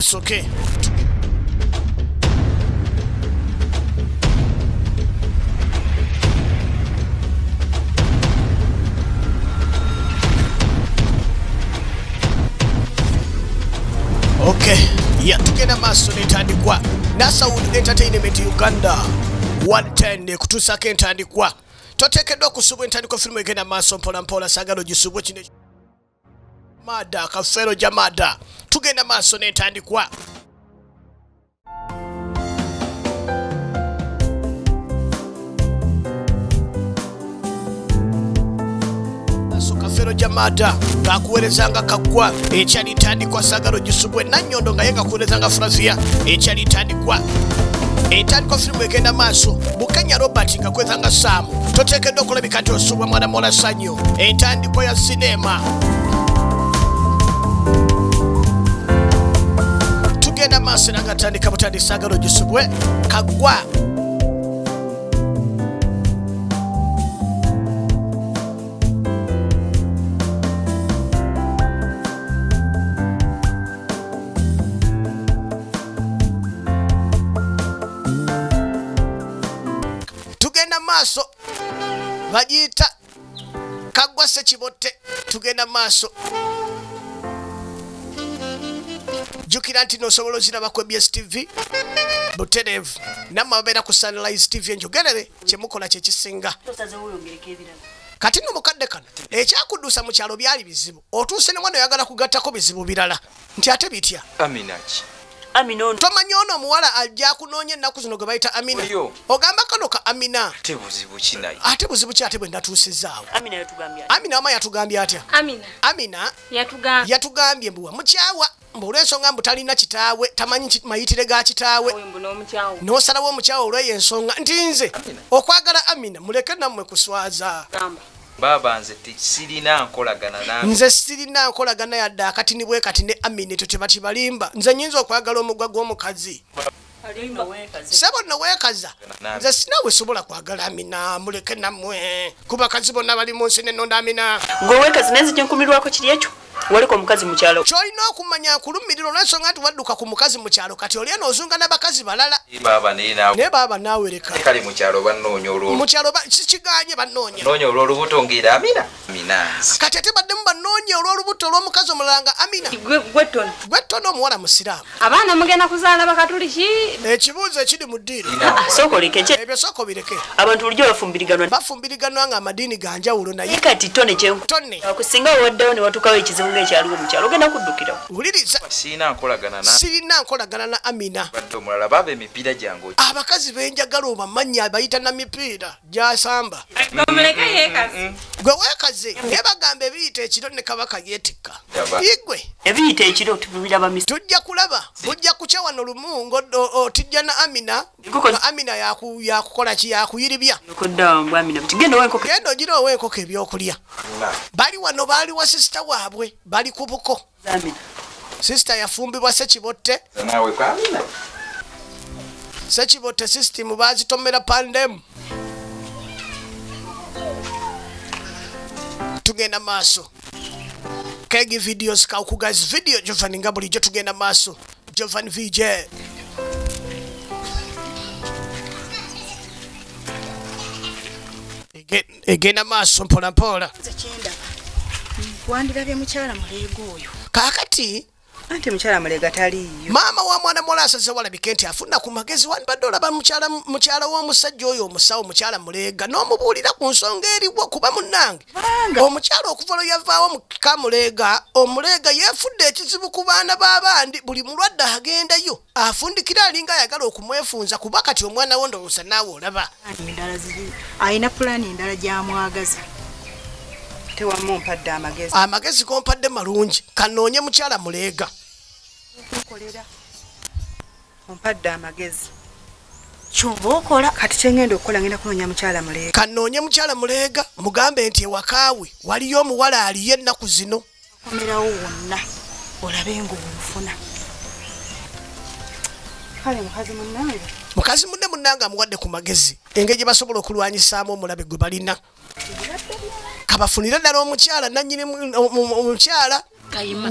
It's okay. Okay, yatugenda maaso netandikwa Nasawood Entertainment Uganda 110 ekutuusako entandikwa toteekeddwa okusubwa entandikwa firimu egenda maaso mpolampola sagala ogisubwe kino Mada kafero ja mada tugenda maaso n'entandikwa Sagalo Jamada kakuwerezanga kaggwa ekyalitandikwa Sagalo Gisubwe Nannyondo nga ye kakuwerezanga Frazia ekyalitandikwa etandikwa firimu egenda maaso Bukenya Robert nga kwezanga Saamu toteekeddwa okulabika nti osubwa mwana mola sanyu entandikwa ya sineema tugenda maaso era nga tandika butandisa agalo gisubwe kagwa bagiyita kaggwa sekibotte tugenda maaso jjukira nti nosobola oziraba ku ebs tv butereevu nammwe ababeera ku sunlise tv enjogerere kyemukola kyekisinga kati no mukadde kano ekyakuduusa mu kyalo byali bizibu otuuse ne mwana oyagala kugattako bizibu birala nti ate bitya aminaki amina ono tomanya ono omuwala ajja akunoonya ennaku zino gwe bayita amina Oyo. ogamba kano ka amina ate buzibu ki naye ate buzibu ki ate bwe natuusizaawo amina yatugambye ati. amina wama yatugambye atya amina amina yatugambye yatugambye mbu wamukyawa mbu olw'ensonga mbu talina kitaawe tamanyi ki- mayitire ga kitaawe mbu n'omukyawo n'osalawo omukyawa olw'eyo ensonga nti nze okwagala amina muleke nammwe kuswaza gamba Baaba nze silina nkolagana naawe. Nze silina nkolagana yadde akatini bwekati ne Amin ekyo kyebakibalimba nze nyinza okwagala omugwa gwomukazi Sebo no wekaza nze sinawe sobola kwagala Amina muleke namwe kubakazi bonna bali munsi nenonda Amina gwe wekaza naye nzija nkumirwako kiri ekyo waliko omukazi mukyalo kyolina okumanya nkulumirira olwensonga nti wadduka ku mukazi mukyalo kati oli eno ozunga nabakazi balala naye baaba naawe lekakale mukyalo banoonya olwomukyalo kikiganye banoonya noonya olwolubuto ngaera amina mina kati ate baddemu banoonya olwolubuto olwomukazi omulala nga amina gwe ttono omuwala musiraamu Abaana mugenda kuzaala bakatuliki? Ekibuuzo ekiri mu ddiiro. Ah, sooka oleke kye. Ebyo sooka obireke. Abantu bulijjo bafumbiriganwa. Bafumbiriganwa nga amadiini ga njawulo naye. Kati tone kyenku. Tone. Akusinga waddawo ne watukawo ekizibu ng'ekyaliwo mu kyalo ogenda kuddukirawo. Wuliriza. Sirina nkolagana na. Sirina nkolagana na Amina. Badde omulala baaba emipiira gyange. Abakazi benjagala obamanyi abayita na mipiira. gyasamba gwe wekaze naye bagamba ebiyita ekiro ne kabaka yetikka igwe ebiyita ekiro tujja kulaba bujja kukya wano lumu ngotijja na amina amina yakukola ki yakuyiribya genda ogira owa enkoko ebyokulya bali wano baali wa sisita waabwe bali ku buko sisita yafumbibwa sekibotte sekibotte sisitimu bazitomera pandemu tugenda maaso kegi videos kaukugaz video jovan nga bulijjo tugenda maaso jovan vj Get egenda maaso mpolampola wandirabye mukyala muleega oyo kakati anti mukyala muleega taliiyo maama wa mwana muwala asaze walabike nti afuna ku magezi wandibadde olaba mukyala w'omusajja oyo omusawo mukyala muleega n'omubuulira ku nsonga eriwo kuba munnange omukyala okuva lwe yavaawo muka muleega omuleega yeefudde ekizibu ku baana b'abandi buli mulwadde agendayo Afundikira alinga ayagala okumwefunza kuba kati omwana wo ndowooza naawe olaba. Alina pulaani endala gy'amwagaza. Tewamumpadde amagezi. Amagezi gompadde malungi kanoonye mukyala muleega. Ompadde amagezi. Kyova okola kati kyengenda okukola ngenda kunoonya mukyala muleega. Kanoonye mukyala muleega mugambe nti ewakaawe waliyo omuwala aliyo ennaku zino. okomerawo wonna olabe ngaomufuna kale mukazi munange mukazi munne munange amuwadde ku magezi engeri gye basobola okulwanyisaamu omulabe gwe balina kabafunire ddala omukyala nanyini omukyala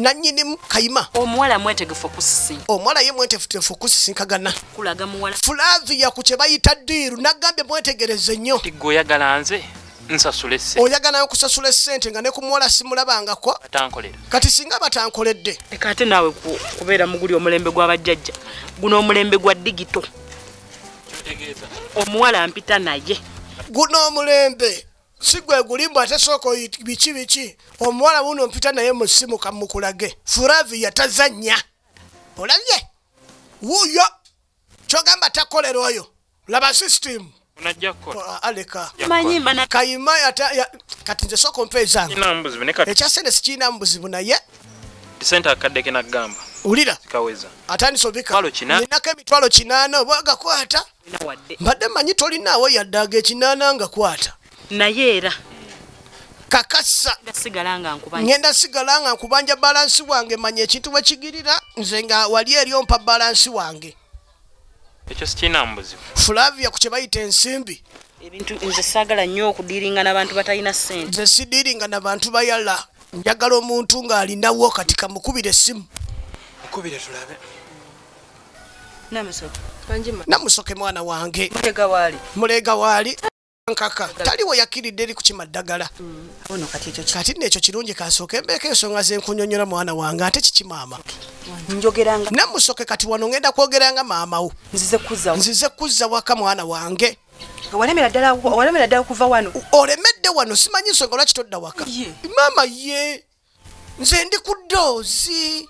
nanyinimu kayima omuwala mwetegefu okusisinka omuwala ye mwetefutefu okusisinkagana kulaga muwala fulavi yaku kye bayita diiru nagambye mwetegereze nnyo tigwe oyagala nze nsasule ssente oyagala nayo kusasula essente nga ne ku muwala simulabangako batankolera kati singa batankoledde leka ate naawe ku- kubeera muguli omulembe gwa bajjajja guno omulembe gwa digito kyotegeeza omuwala ampita naye guno omulembe si gwe gulimbu ate sooka oyi- biki biki omuwala wuno mpita naye mu ssimu kamukulage furavi yatazannya olabye wuuyo kyogamba takolera oyo laba system kayima kati nze soka ompa ezange ekya sente sikirinamu buzibu naye sente akadde kenagamba wulira atandise obikalinako emitwalo kinaana oba agakwata mbadde manyi tolinaawo yadde aga ekinaana nga kwata naye era kakasa ngenda sigala nga nkubanja balansi wange manya ekintu bwekigirira nze nga wali eri ompa balansi wange Ekyo sikirina mbuzibu. Flavia ku kye bayita ensimbi. Ebintu nze saagala nnyo okudiiringa n'abantu batalina ssente. Nze sidiiringa na bantu bayala. Njagala omuntu ng'alinawo kati kamukubire essimu. Mukubire tulabe. Namusoke. Kanjima. Namusoke mwana wange. Muleega waali. Muleega waali. nkaka tali we yakkiridde eri kukima ddagala mm, kati nno ekyo kirungi kasooke mbeeko ensonga zenkunyonyola mwana wange ate kiki maama namusoke kati wano ngenda kwogera nga maamawo nzize kuzza waka mwana wange olemera ddala okuva wano olemedde wano simanyi nsonga lwaki todda waka maama ye nze ndi ku ddoozi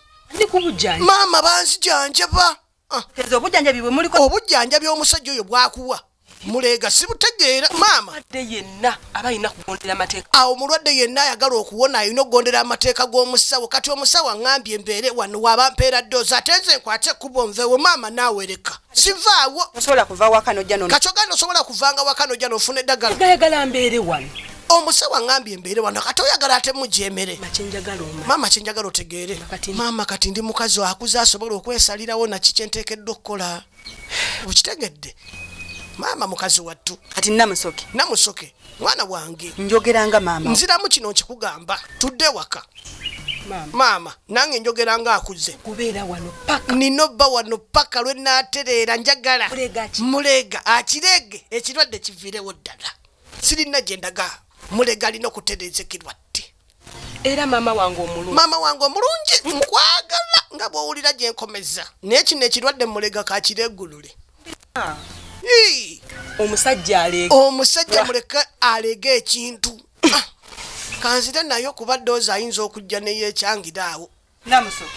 maama banzijanjaba Ah. Tezo obujanjabi bwe muliko. Obujanjabi omusajja oyo bwakuwa. Mulega sibutegeera maama. Ade yenna abayina kugondera amateeka. Awo mulwadde yenna ayagala okuwona ayina okugondera amateeka g'omusawo. Kati omusawo angambye mbeere wano waba mpeera doozi ate nze nkwate kubo nvewo maama naawe leka. Sivaawo. Osobola kuva waka nojja nono. Kati oganda osobola kuvanga waka nojja nofuna eddagala. Gayagala mbeere wano. omusawo aŋambye embeere wano kati oyagala ate mugyemere maama kyenjagala otegeere maama kati ndi mukazi akuze asobola okwesalirawo naki kyenteekeddwa okukola okitegedde maama mukazi wattu kati namusoke namusoke mwana wange njogeranga maama nziramu kino nkikugamba tudde waka maama nange njogera nga akuze nina obba wano paka lwe natereera njagala muleega akireege ekirwadde kiviirewo ddala sirina gye ndaga mulega alina okutereezekirwa tti era maama wange omulungi maama wange omulungi nkwagala nga bw'owulira gye nkomeza naye kino ekirwadde mulega kakireegulule ah. omusajja aleega omusajja muleke aleega ekintu ah. kanzire nayo kuba doozi ayinza okujja neyeekyangira awo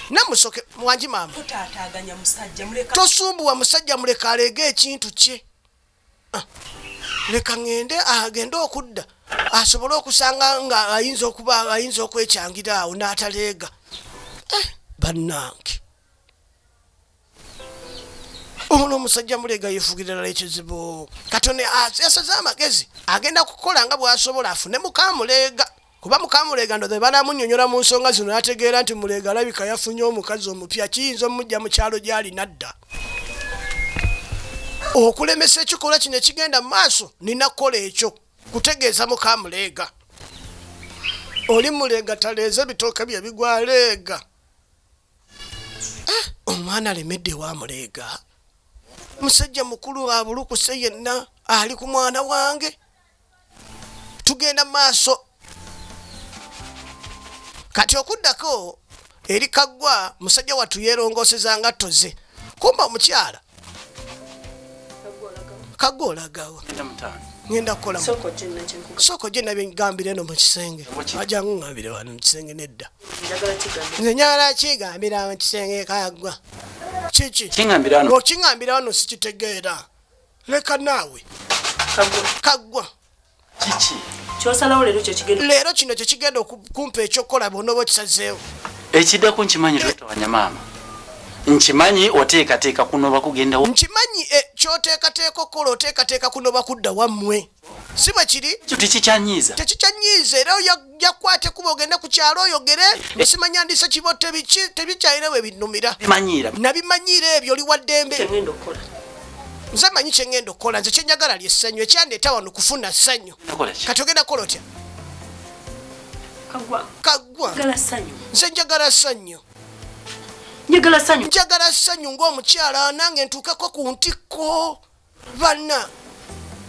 namusoke mwangi maama tosumbuwa musajja muleka aleega ekintu kye Ah, leka ŋŋende agende ah, okudda asobole okusanga nga ayinza okuba ayinza okwecangira awo n'ataleega eh, bannange ono omusajja muleega yefugira ddala ekizibu katone ah, yasaze amagezi agenda kukola nga bw'asobola afune mukamuleega Kuba muka Muleega ndowooza bwe banaamunnyonnyola mu nsonga zino n'ategeera nti Muleega alabika yafunye omukazi omupya kiyinza omuggya mu kyalo gy'ali n'adda okulemesa ekikolwa kino ekigenda mu maaso nina kukola ekyo kutegeeza muka muleega oli muleega taleeze ebitooke bye bigwa leega eh, omwana alemedde ewa muleega musajja mukulu abulukuse yenna ali ku mwana wange tugenda maaso kati okuddako eri kaggwa musajja wattu yeerongoseza nga toze kumba omukyala kaggwa olagawo ngenda kukola sooko gye nabigambira eno mu kisenge ajangu ngambire wano mu kisenge nedda nze nyagala kigambira mu kisenge kaggwa kiki okingambira wano sikitegeera leka naawe kaggwa kiki kyosalawo leero kyekigenda leero kino kyekigenda okumpa ekyokukola bwonoba okisazeewo ekiddako nkimanyi twetawanya maama nkimanyi oteekateeka kunoba kugendawo nkimanyi eh, kyoteekateeka okukola oteekateeka kunoba kudda wammwe si bwe kiri ekyo tekikyanyiiza tekikyanyiiza era yakwate kuba ogende ku kyalo oyogere esimanya ndisa kibo tebikyayire we binnumira nabimanyiira ebyo oli waddembe nze manyi kyengenda okukola nze kyenjagala lye ssanyu ekyandeeta wano kufuna ssanyu kati ogenda kukola otya kagwa nze njagala ssanyu njagala ssanyu njagala ssanyu ng'omukyala nange ntuukeko ku ntikko bana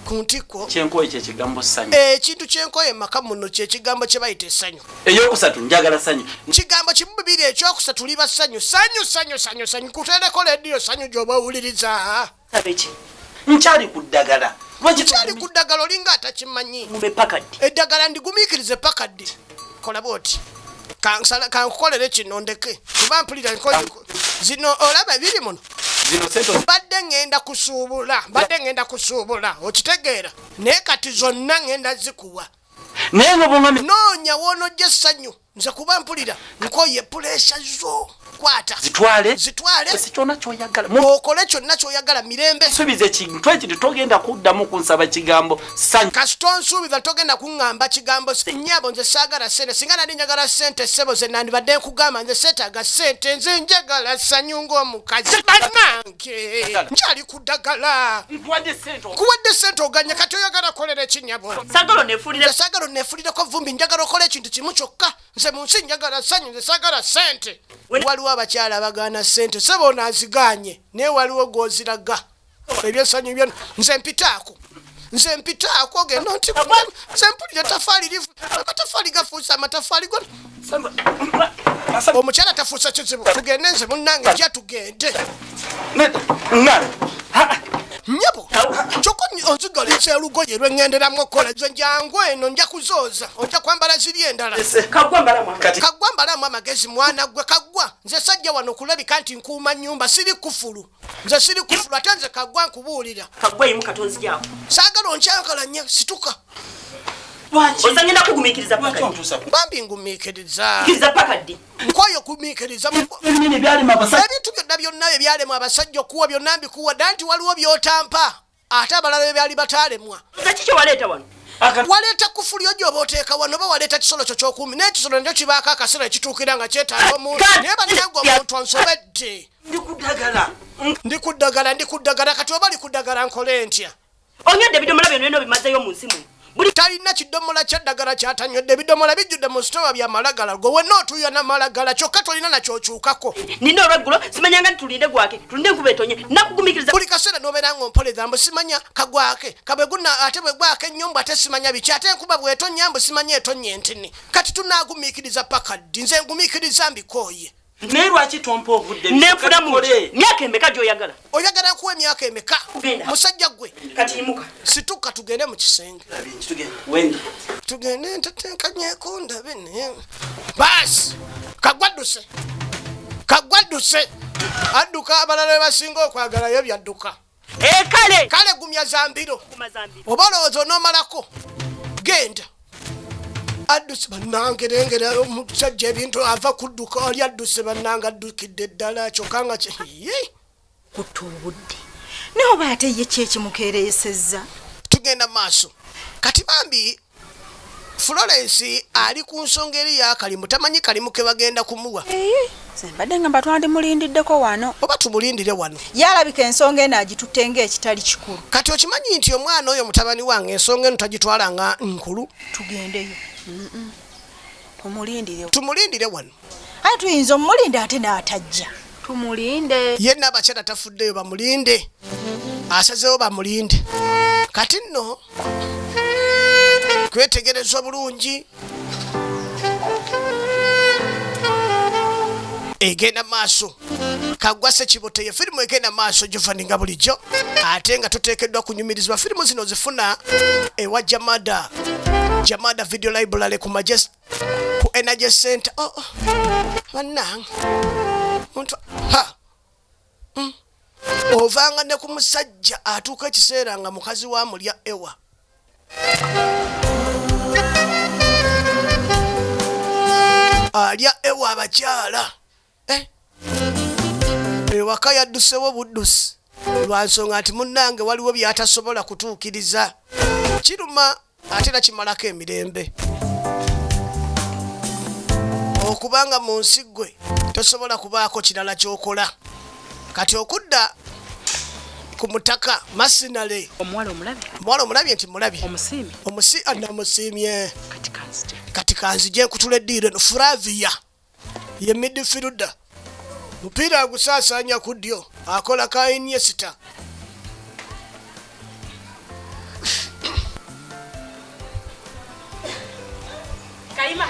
ku ntikko kyenkoye kyekigambo sanyu eh, ekintu kyenkoye maka muno kyekigambo kyebayita esanyu eyokusatu njagala sanyu kigambo kimu bibiri ekyokusatu liba sanyu sanyu sanyu sanyu sanyu kutereko lediyo sanyu gyoba owuliriza sabeki nkyali ku ddagala nkyali ku ddagala olinga atakimanyi eddagala ndigumikirize paka ddi kola bwoti kansala kankukolere kino ndeke kuba mpulira nkoyiko zino olaba biri muno mbadde ŋŋenda kusuubula mbadde ŋŋenda kusuubula okitegeera naye kati zonna ŋŋenda zikuwa naye nga bwonoonya woonojja essanyu nze kuba mpulira nkoye puleesa zo kwata zitwale zitwale ese kyona kyoyagala mukole kyonna kyoyagala mirembe subiza ekintu ekyo togenda kuddamu kunsaba kigambo sanyu kasita onsuubiza togenda kuŋŋamba kigambo nyabo nze saagala sente singa nali njagala sente ssebo ze nandibadde nkugamba nze seetaaga sente nze njagala sanyu ng'omukazi banange nkyali ku ddagala kuwadde sente oganye kati oyagala kolera ekinyabo saagala oneefulireko vumbi njagala okola ekintu kimu kyokka nze mu nsi njagala ssanyu nze saagala ssente waliwo abakyala abagaana ssente sebo ono aziganye naye waliwo gwoziraga ebyesanyu byona nze mpitaako nze mpitaako genda nti nze mpulira etafaali livu amatafaali gafuusa amatafaali gona omukyala tafuusa kizibu tugende nze munange ja tugende nyabo kyokka onzigala ekyelugoye lweŋŋenderamu okukola ze njangu eno nja kuzooza ojja kwambala ziri endala kaggwa mbalamu amagezi mwana ggwe kaggwa nze sajja wano okulabika nti nkuuma nnyumba siri kufulu nze siri kufulu ate nze kaggwa nkubuulira saagala onkyakala nnyo situka ozanyina kugumikiriza bambi ngumikiriza nkwayo okumiikiriza ebintu byonna byonna ebyalema abasajja okuwa byonna mbikuwa dda nti waliwo byotampa ate abalala bye byali bataalemwa waleeta kufuli ojo oba oteeka wano oba waleeta kisolo kyo kyokuumi naye ekisolo nakyo kibaako akaseera ekituukira nga kyetaaga omuntu naye banange omuntu ansobedde ndi ku ddagala ndi ku ddagala kati oba li ku ddagala nkole ntya Onywedde ebidomola byonna byonna obimazeeyo mu nsi muno. Buli talina kidomola kya ddagala kyatanywedde ebidomola bijjudde mu sitowa bya malagala gwe wenna otuuya na malagala kyokka tolina nakyokyukako nina olweggulo simanyanga nti tulinde gwake tulinde enkuba etonye nakugumikiriza buli kaseera nobeera nga ompoleza mbu simanya kagwake kabweguna ate bwegwake nnyo mbu ate simanya biki ate enkuba bwetonya mbu simanya etonye ntini kati tunagumiikiriza paka ddi nze ngumiikiriza mbikooye naye lwaki tompa obudde nenfuna mu myaka emeka gyoyagala oyagala kuwa emyaka emeka musajja gwe katiimuka situka tugende mu kisenge tugende ntetenkanyeko ndabe naye baasi kagwadduse kagwadduse adduka abalala bebasinga okwagalayo byadduka Eh, kale kale gumya zambiro oba olowooza onomalako genda adduse bannange lengera omusajja ebintu ava kudduka oli adduse bannange addukidde ddala kyokka nga kye kutta obudde naye oba ate ye kyekimukeereesezza tugenda maaso kati bambi florence ali ku nsonga eri yakalimu tamanyi kalimu ke bagenda kumuwa mbadde nga mba twandimulindiddeko wano oba tumulindire wano yalabika ensonga eno agitutte nga ekitali kikulu kati okimanyi nti omwana oyo mutabani wange ensonga eno tagitwala nga nkulu tugendeyo tumulindire wano aye tuyinza omulinde ate n'atajja tumulinde ye nabakyala tafuddeyo bamulinde asazewo bamulinde kati nno kwetegereza obulungi egenda maaso kagwa sekibote ye firimu egenda maaso jovani nga bulijjo ate nga tuteekeddwa kunyumirizibwa firimu zino zifuna ewa jamada jamada video library ku majestic ku energy center oh, oh. banange muntu ha mm. ovanga ne ku musajja atuuka ekiseera nga mukazi wa mulya ewa alya ewa abakyala eh. ewaka yaddusewo buddusi lwa nsonga nti munnange waliwo by'atasobola kutuukiriza kiruma ate era kimalako emirembe okubanga mu nsi ggwe tosobola kubaako kirala ky'okola kati okudda ku mutaka masinale omuwala omulabye omuwala omulabye nti mulabye omusiimi omusi anamusiimye kati kanzije kati kanzije nkutula eddiiro eno furaviya ye midfielder mupiira agusaasaanya ku ddyo akola ka iniesta kayima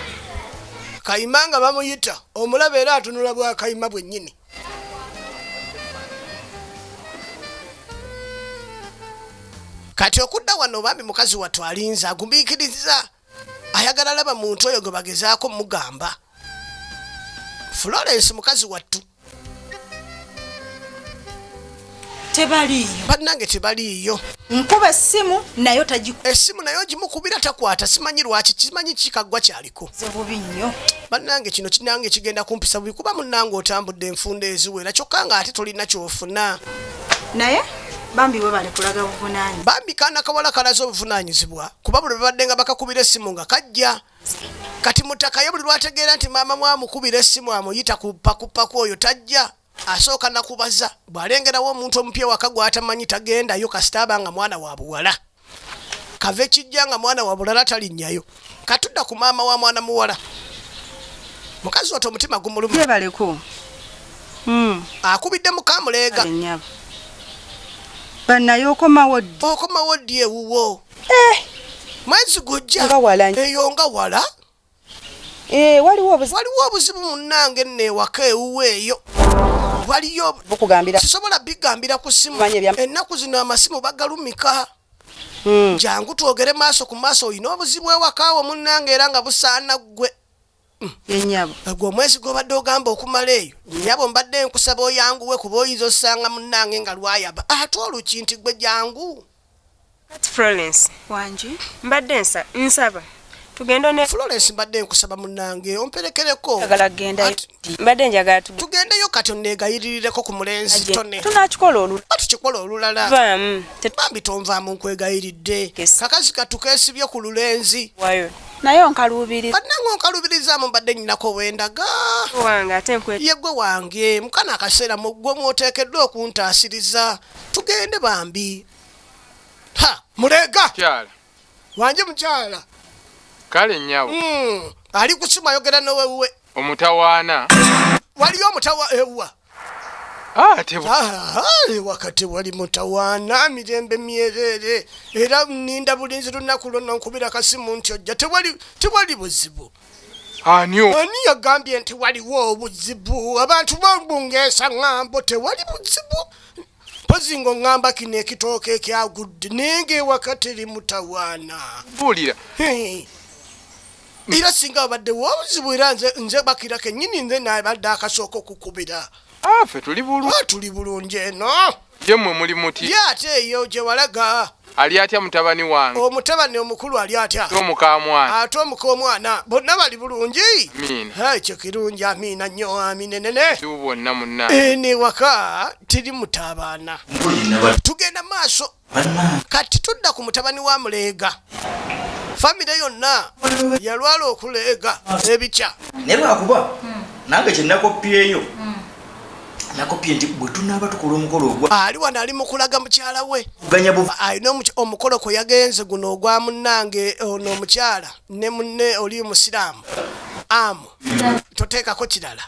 kayima nga bamuyita omulaba era atunula bwa kayima bwennyini kati okudda wano bambi mukazi wattu alinza agumiikiriza ayagala laba muntu oyo gwe bagezaako mugamba florence mukazi wattu tebaliiyo bannange tebaliiyo nkuba essimu nayo tagiku essimu naye ogimukubira takwata simanyi lwaki kimanyi kikaggwa kyaliko bubi nnyo bannange kino kinange kigenda kumpisa bubi kuba munnange otambudde enfunda eziwera kyokka nga ate tolina kyofuna naye bambi webale kulaga buvunanyi bambi kaana kawala kalaze obuvunanyizibwa kuba buli babadde nga bakakubira essimu nga kajja kati mutaka ye buli lwategeera nti maama mwamukubira essimu amuyita kupakupaku oyo tajja asooka nakubaza bw'alengerawo omuntu omupya waka gw'atamanyi tagendayo kasita aba nga mwana wa buwala kave kijja nga mwana wa bulala talinnyayo katudda ku maama wa mwana muwala mukazi watu omutima gumulumyebaleko hmm. akubidde mukamuleega banaye okomawo okomawo ddi ewuwo eh. mwezi gujja eyo nga wala Eh, waliwo obuzibu munnange nno ewaka ewuwe eyo waliyo sisobola bigambira ku simu ennaku zino amasimu bagalumika hmm. jangu twogere maaso ku maaso olina obuzibu ewakaawo munnange era nga busaana ggwe yenyabo gwe omwezi gwobadde ogamba okumala eyo nyabo mbadde nkusaba oyanguwe kuba oyinza osanga munange nga lwayaba ate oluki nti gwe jangu Kati Florence wangi mbadde nsa nsaba tugende ne Florence mbadde nkusaba munange omperekereko njagala kugenda Ati- Edi. mbadde njagala tugende tugendeyo kati onneegayirireko ku mulenzi tone tunakikola olulala oba tukikola olulala vaamu bambi tonvaamu nkwegayiridde Yes. kakazi katukeesibye ku lulenzi tetwayo naye onkaluubiriza bannange onkalubirizaamu mbadde nnyinako wendaga wange ate nkwe yegwe wange mukano akaseera mu ggwe mw'oteekeddwa okuntaasiriza tugende bambi ha mulega kyala wanje mukyala kale nyabo mm. ali kusima yogera nowewe omutawaana waliyo omutawa ewa ah, ah, ah, wakati wali mutawaana mirembe myereere era ninda bulinzi lunaku lwonna nkubira kasimu nti ojja tewali buzibu anio ani yagambye nti waliwo obuzibu abantu babungeesa ŋŋambo tewali buzibu mpozi nga oŋŋamba kino ekitooka ekyagudde naye ngaewaka teri mutawaana buulira era singa abadde wobuzibu era nze bakira kenyini nze nabadde akasooka okukubira ah, fe tuli bulungi ah, eno ye mmwe muli muti ye ate eyo gye walaga ali atya mutabani wange omutabani omukulu ali atya omukamwana ate omuka omwana bonna bali bulungi ekyo kirungi amiina nnyo aminenene bwonna munna ene waka tiri mutabaana tugenda maaso kati tudda ku mutabani wa muleega famire yonna yalwala okuleega ebikya naye lwakuba nange kyenakopyeyo nakopye nti bwe tunaaba tukola omukolo ogwa ali wano ali mu kulaga mukyala we alina omukolo kwe yagenze guno ogwa munnange eh, ono omukyala ne munne oli musiraamu amu toteekako kirala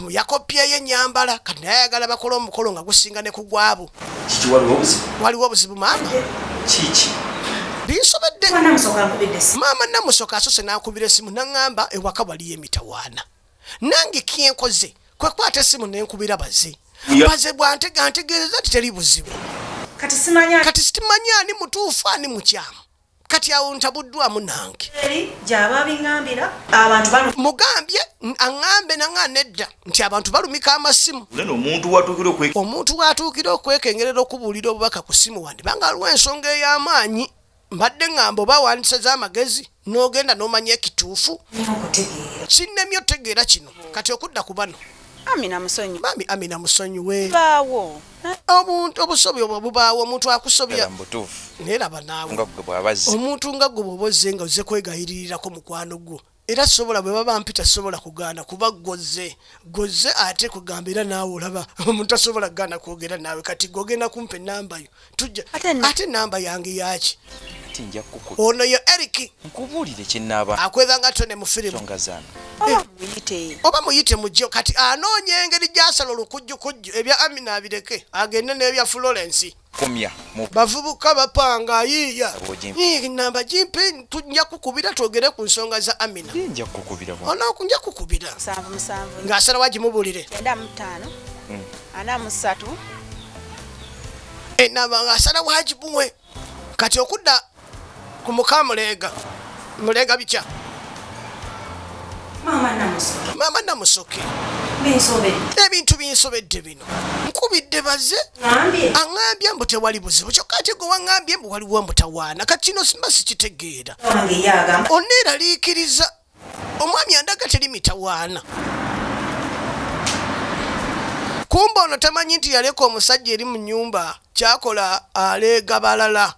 yakopyeyo enyambala kati naye ayagala bakola omukolo nga gusinga ne kugwabo waliwo obuzibu maama binsobedde maama namusoka asose nakubira esimu naŋamba ewaka waliyo emitawaana nange kyenkoze kwekwata essimu nenkubira baze baze bwantega ntegeereza nti teri buzibu kati sitimanya ani mutuufu ani mukyamu kati awo ntabuddwamu nange mugambye aŋambe naŋa nedda nti abantu balumika amasimu omuntu watuukira okwekengerera okubuulira obubaka ku simu wandibanga aliwo ensonga ey'amaanyi Mbadde ngamba oba wandiseze amagezi n'ogenda n'omanya ekituufu. Sinnemye otegeera kino kati okudda ku bano. Amina musonyi. Bambi Amina musonyiwe. Baawo. Omuntu obusobi obwo bubaawo omuntu akusobya. Naye laba naawe. Omuntu nga gwe bw'oba ozze nga ozze kwegayiririrako mukwano gwo Era sisobola bwe baba mpita sisobola kugaana kuba ggw'ozze. Ggw'ozze ate kugamba era naawe olaba omuntu tasobola kugaana kwogera naawe kati ggwe ogenda kumpa ennamba yo tujja ate ennamba yange yaaki? Ono ye Eric. Nkubuulire kye nnaaba. Akweza nga tone mu firimu. Songa zaano. Oba muyite. Oba muyite mujje kati anoonya engeri gy'asala olukujjukujju ebya Amina abireke agende n'ebya Florence. Bavubuka bapanga ayiiya namba gimpe nja kukubira twogere ku nsonga za Amina onoku nja kukubira ng'asalawo agimubulire enamba ng'asalawo agimuwe kati okudda Ku muka muleega. Muleega bitya? Maama Namusoke. Maama Namusoke. Binsobedde. Ebintu binsobedde bino. Nkubidde baze. Ngambye. Angambye mbu tewali buzibu. Kyokka ate gwe wangambye mbu waliwo mutawaana. Kati kino simba sikitegeera. Wange ye agamba. Oneeraliikiriza. omwami andaga teri mitawaana kumba ono tamanyi nti yaleka omusajja eri mu nyumba kyakola aleega balala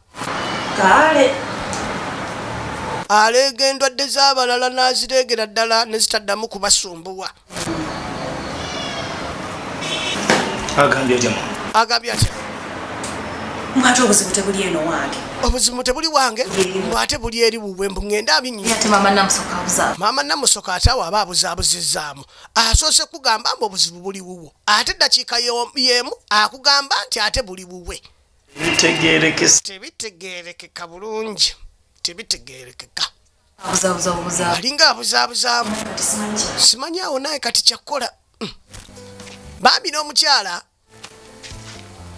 aleega endwadde z'abalala n'azireegera ddala ne zitaddamu kubasumbuwa agambye atya agambye atya mwate obuzibu tebuli eno wange obuzibu tebuli wange mwate buli eri wuwe mbu ngende abinyimama namusoka ate awo aba abuzabuzizaamu asoose kugamba mbu obuzibu buli wuwo ate dakiika yemu akugamba nti ate buli wuwe tebitegerekeka bulungi tebitegerekeka alinga abuzaabuzaamu simanyi awo naye kati kyakkola mm. bambi n'omukyala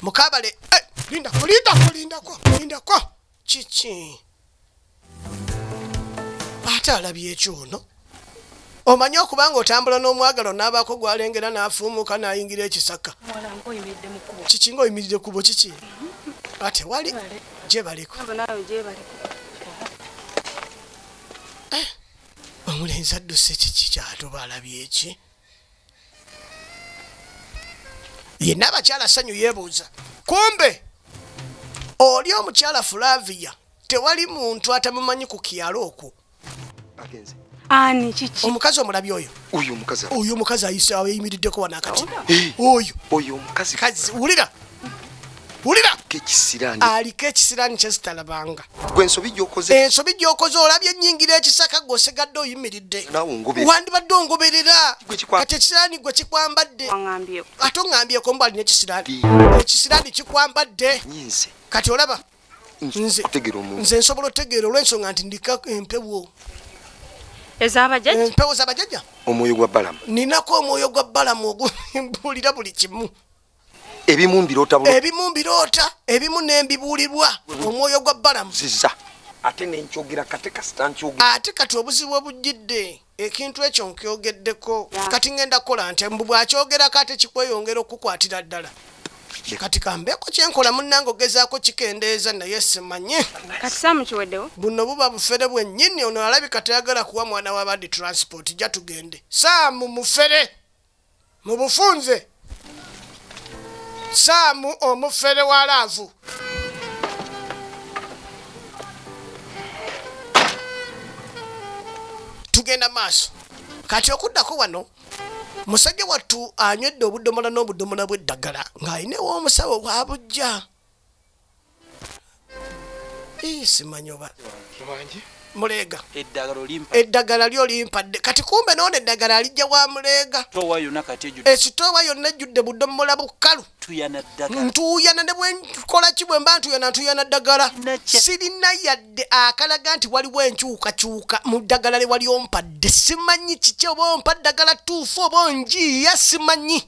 mukabale eh, lindako lindako lindako lindako kiki ate alabye ekyono Omanyi okuba ng'otambula n'omwagalwa n'abaako gw'alengera n'afuumuuka n'ayingira ekisaka. Kiki ng'oyimiridde kkubo kiki? Ah, tewali gyebaleko. Eh, omulenzi adduse kiki kyatuba alabye eki? Yenna abakyala ssanyu yeebuuza. Kumbe oli omukyala Flavia tewali muntu atamumanyi ku kyalo okwo. agenze ani kiki omukazi omulabi oyo oyo omukazi oyo omukazi ayise ayimiriddeko wano akati eh. oyo oyo omukazi kazi wulira wulira kekisirani aliko ekisirani kyezitalabanga gwe ensobi gyokoze ensobi gyokoze olabye ennyingira ekisaka gwe osigadde oyimiridde wandibadde ongoberera kati ekisirani gwe kikwambadde ate ong'ambyeko mbu alina ekisirani ekisirani kikwambadde kati olaba nze nsobola otegeera olwensonga nti ndika empewo empewo zabajaja omwoyo gwa balamu ninako omwoyo gwa balamu ogubuulira buli kimu ebimu mbiroota ebimu mbiroota ebimu nembibuulirwa omwoyo gwa balamu ziza ate nenkyogera kate kasita nkyogera ate kati obuzibu obujjidde ekintu ekyo nkyogeddeko kati ngenda kukola nti mbu bwakyogerako ate kikweyongera okukwatira ddala kati kambeeko kyenkola munange ogezaako kikendeeza naye simanyi buno buba bufere bwennyini ono alabika tayagala kuwa mwana wabandi transport ja tugende saamu mufere Mu bufunze, Sam omufere wa laavu. Tugenda maaso. Kati okuddako wano musajja wattu anywedde obudomola n'obudomola bw'eddagala ng'alina ew'omusawo w'abujja. simanyi oba muleega eddagala lyo limpadde kati kumbe noona eddagala alijja wa muleega esitoowa yonna ejjudde budomola bukalu ntuuyana ne bwenkola ki bwe mba ntuuyana ntuuyana ddagala sirina yadde akalaga nti waliwo enkyukakyuka mu ddagala lye wali ompadde simanyi kiki oba ompa ddagala tuufu oba onjiiya simanyi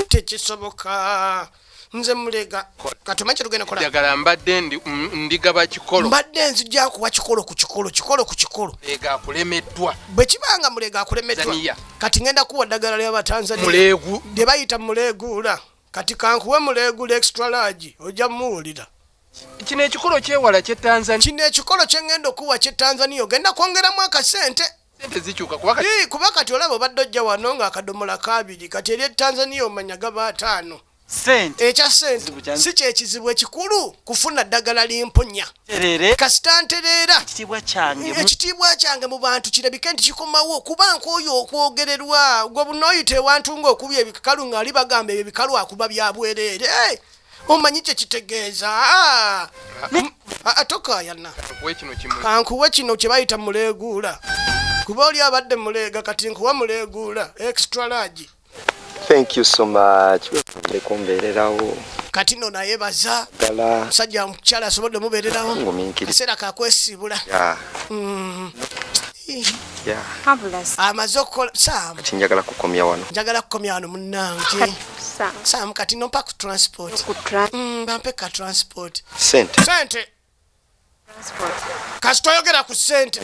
tekisoboka nze mulega katuma kirugenda kola jagala mbadde ndi mm, ndiga ba kikolo mbadde nzija kuwa kikolo ku kikolo kikolo ku kikolo ega kulemeddwa bwe kibanga mulega kulemeddwa kati ngenda kuwa dagala lya batanzania mulegu de bayita mulegula kati kankuwe mulegula extra large oja muwulira kino ekikolo kyewala kye tanzania kino ekikolo kyengenda okuwa kye tanzania ogenda kwongeramu akasente sente zikyuka kuba kati Ii, kuba kati olaba obadde ojja wano nga akadomola kabiri kati eri e tanzania omanya gaba ataano sente ekya sente Kizibu kya- si kyekizibu ekikulu kufuna ddagala limponya terere kasita ntereera ekitiibwa kyange mu- ekitiibwa kyange mu bantu kirabike nti kikomawo kuba nkooyo okwogererwa gwe bunooyita ewantu ng'okubya ebikalu ng'ali bagamba ebyo ebikalu akuba bya bwereere Eh, omanyi kye kitegeeza ah, mm, ah, ah, tokaayana Kuwe kino kimu. kankuwe kino kye bayita muleeguula kuba oli abadde muleega kati nkuwa muleeguula extra large thank you so much webale kumbeererawo kati no naye baza ddala musajja mukyala asobodde mubeererawo Ngumiikiriza. ekiseera kakwesiibula Yeah. amaze okukola saamu kati njagala kukomya wano njagala kukomya wano munnange saamu kati nompa ku transport mm, bampe ka transport sente sente kasita oyogera ku sente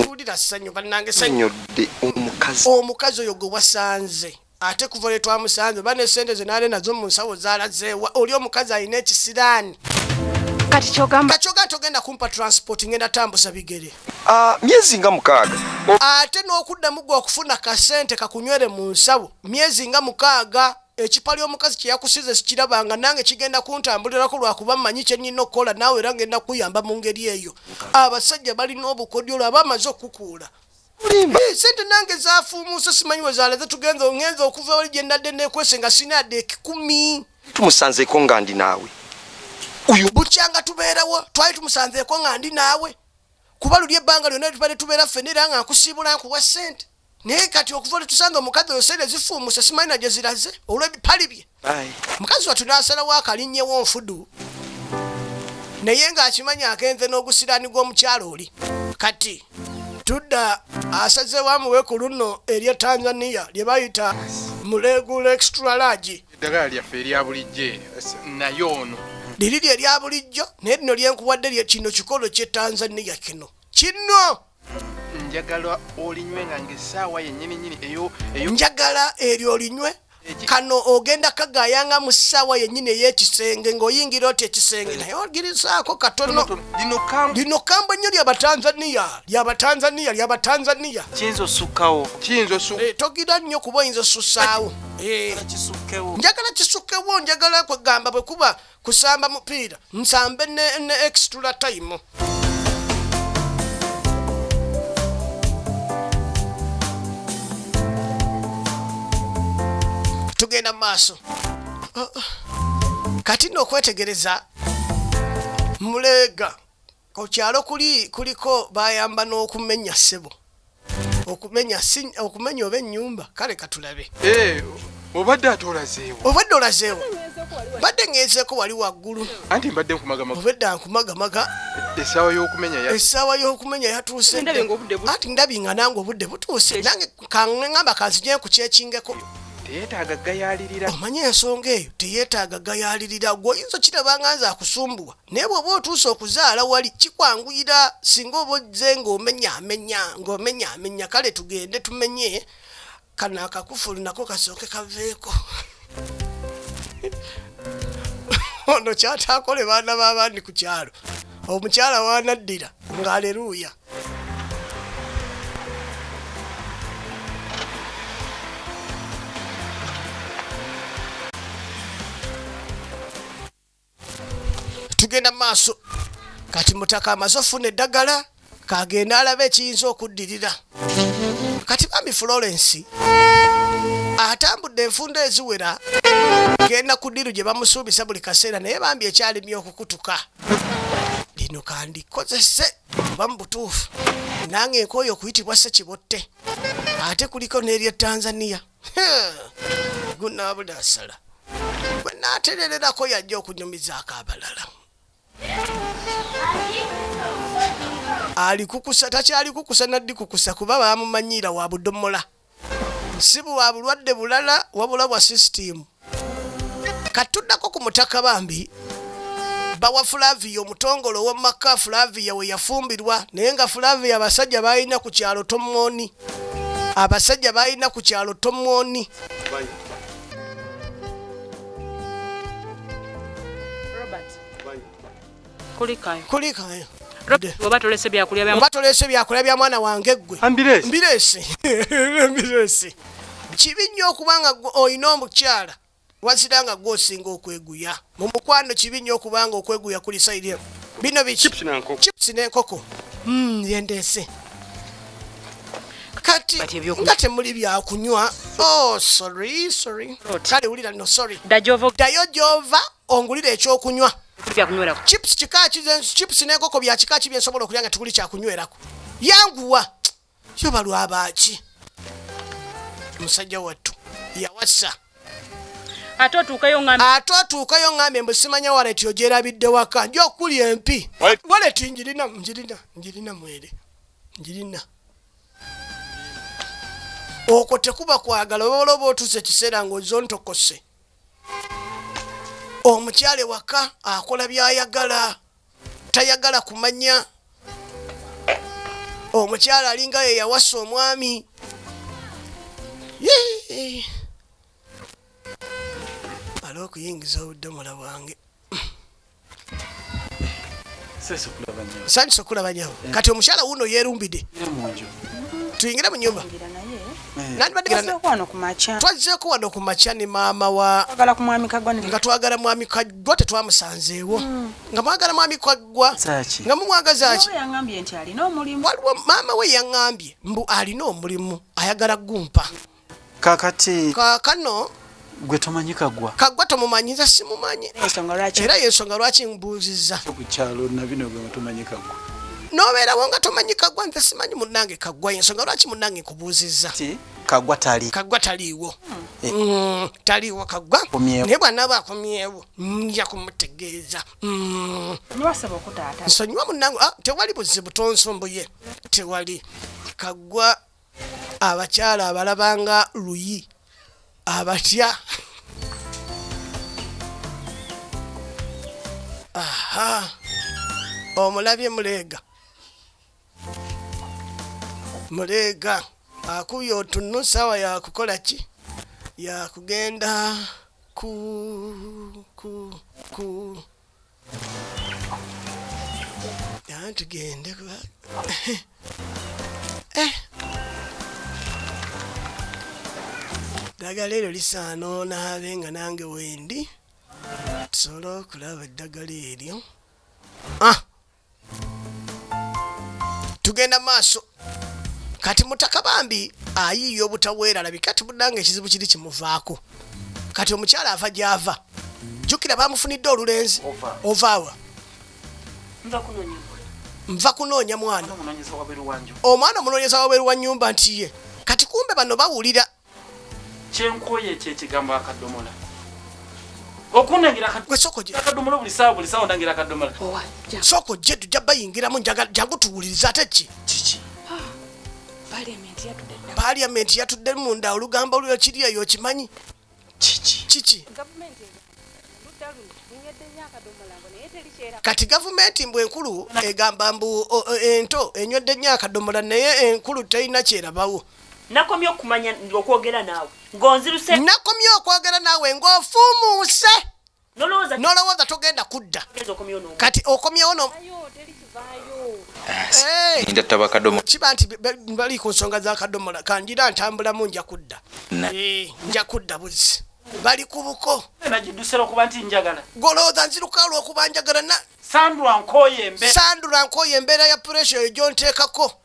wulira ssanyu bannange sanyodde omukazi omukazi oyo gwe wasanze Ate kuva lwetwamusanze oba ne sente ze naali nazo mu nsawo zaalazeewa oli omukazi alina ekisiraani. Kati kyogamba kyogamba togenda kumpa transport ngenda tambuza bigere. Ah, myezi nga mukaaga. Ate n'okuddamu gwe okufuna kasente kakunywere mu nsawo myezi nga mukaaga. Ekipali omukazi kye yakusize sikirabanga nange kigenda kuntambulirako lwakuba mmanyi kye nnina okukola naawe era ngenda kukuyamba mu ngeri eyo. Abasajja balina obukodyo lwaba amaze okukukuula. mulimba eh, sente nange zafuumuuse simanyi we zaaleze tugenze ongenze okuva wali gye ndadde nekwese nga sinaadde ekikumi tumusanzeeko nga ndi naawe uyu bukyanga tubeerawo twali tumusanzeeko nga ndi naawe kuba luli ebbanga lyonna tubadde tubeera ffene era nga nkusiibula nkuwa sente naye kati okuva lwetusanze omukazi oyo sente zifuumuuse simanyi nagyeziraze olw'ebipali bye mukazi watu nasalawo akalinyewo nfudu naye ng'akimanyi agenze n'ogusiraani gw'omukyalo oli kati tudda asazewo amuwe ku luno erye tanzania lye bayita mulegula extra large eddagala lyaffe erya bulijjo naye ono liri lye lya bulijjo naye lino lyenkuwadde lye kino kikolo kye tanzania kino kino njagala olinywe nga ngesaawa yenyini nyini eyo eyo njagala eryo olinywe kano ogenda kagayanga mu ssaawa yennyini ey'ekisenge ng'oyingira oti ekisenge naye ogirizaako katono lino kambo nnyo lyabatanzaniya lyabatanzaniya lyabatanzaniya kiyinza osukkawo kiyinza osu eh, togira nnyo kuba oyinza osussaawo eh. njagala kisukkewo njagala kwegamba bwe kuba Kusamba mupiira nsambe ne, ne extra time. Tugenda mu maaso. Uh, uh. Kati nno okwetegereza muleega Ku kyalo kuli kuliko bayamba n'okumenya ssebo okumenya okumenya oba ennyumba kale katulabe eh, obadde ate olazeewo obadde olazeewo mbadde ngezeeko wali waggulu anti mbadde nkumagamaga obedda nkumagamaga essaawa y'okumenya essaawa y'okumenya yatuuse anti ndabi nga nange obudde butuuse nange kaŋŋamba kanzijee ku kyekingeko teyetaaga gayalirira omanye ensonga eyo teyetaaga gayalirira gweoyinza okirabanga nze akusumbuwa Naye bw'oba otuuse okuzaala wali kikwanguyira singa oba ozze ng'omenyaamenya ng'omenyaamenya kale tugende tumenye kano akakufulu nako kasooke kaveeko ono kyataakole baana b'abandi ku kyalo omukyala waanaddira ng'aleruuya tugenda mu maaso kati mutaka amaze ofuna eddagala kagenda alaba ekiyinza okuddirira kati bambi florence atambudde enfunda eziwera genda ku ddiru gye bamusuubisa buli kaseera naye bambi ekyalimye okukutuka lino kandikozese oba mu butuufu nange nkooyo okuyitibwa sekibotte ate kuliko n'erya tanzania gunaabula asala bwe naaterererako yajja okunyumizaako abalala alikukusa takyali kukusa naddi kukusa kuba bamumanyiira wa budomola si bwa bulwadde bulala wabula bwa sisitiimu katuddako ku mutaka bambi bawa fulaviya omutongole owomumaka fulaviya we yafumbirwa naye nga fulaviya abasajja balina ku kyalo tomwoni abasajja balina ku kyalo tomwoni kulikayo kulikayo oba tolese byakulya bya oba tolese byakulya bya mwana wange gwe ambiresi ambiresi ambiresi kibi nnyo okubanga olina omukyala wazira nga gwe osinga okweguya mu mukwano kibi nnyo okubanga okweguya kuli saidi emu bino biki chips n'enkoko hmm, yendeese kati nga temuli byakunywa oh, kale wulira no sorry dayo gyova ongulire ekyokunywa chips kika ki chips n'enkoko bya kika ki bye nsobola okulya nga tuguli kyakunywerako yanguwa yo balwabaaki musajja wattu yawasa ate otuukayo ŋŋambye mbu simanya waleti ogyerabidde waka nja okuli empi waleti njirina njirina njirina mwere njirina okwo tekuba kwagala obaola oba otuuse ekiseera ng'ozontokose omukyala ewaka akola byayagala tayagala kumanya omukyala alinga ye yawasa omwami ala okuyingiza obudomola bwange sanyu sokula banyawo eh. kati omushara wuno yerumbide tuyingire munyumba twazzeko wano ku makya ne maama wa nga twagala mwami kaggwa tetwamusanzeewo hmm. nga mwagala mwami kaggwa nga mumwagazaki waliwo maama we yaŋambye mbu alina omulimu ayagala gumpa mm. kakati kakano gwe tomanyi kagwa kagwa tomumanyi nze simumanyi era yensonga lwaki mbuuzizza kukyalo nabino gwe tomanyi kagwa nobeerawo nga tomanyi kagwa nze simanyi munange kagwa yensonga lwaki munange nkubuuzizza kagwa tali kagwa taliiwo eh. mm, taliiwo kagwa naye bwanaba akomyewo nja kumutegeeza mm. nsonyiwa munange ah, tewali buzibu tonsomboye tewali kagwa abakyala abalaba nga luyi abatya aha omulabye muleega muleega akubye otunnu saawa yakukola ki yakugenda ku ku ku tugende eh. ddagala eryo lisaana onaabe nga nange wendi tusobole okulaba eddagala eryo ah! tugenda maaso kati mutaka bambi ayiiya obutaweerala bikati munange ekizibu kiri kimuvaako kati omukyala ava gyava jjukira bamufunidde olulenzi ovaawa nva kunoonya mwana omwana omunoonyeza wabeeru wa nyumba nti ye kati kumbe bano bawulira kyenkooye ekyekigambo akadomola okunangirakadomola buli saawa buli saawa onangira akadomola sooka ojje tujja bayingiramu jangu tuwuliriza ate ki kiki ah, paliamenti yatudde munda olugambo olwo kiri eyo okimanyi kiki kiki kati gavumenti mbu enkulu egamba mbu ento enywedde nnyo akadomola naye enkulu terina kyerabawo Nakomye okumanya okwogera naawe ng'onziruse. Nakomye okwogera naawe ng'ofuumuuse. Nolowooza. Nolowooza togenda kudda. Kati okomyewo no. Ninda eh. taba kadomo. Kiba nti bali ku nsonga za kadomola kanjira ntambulamu nja kudda. Eh, nja kudda buzi. Bali ku buko. Nagidduse lwokuba nti njagala. Golowooza nziruka lwokuba njagala na. Sandra nkooye embeera. Sandra nkooye embeera ya puresha eyo gy'onteekako.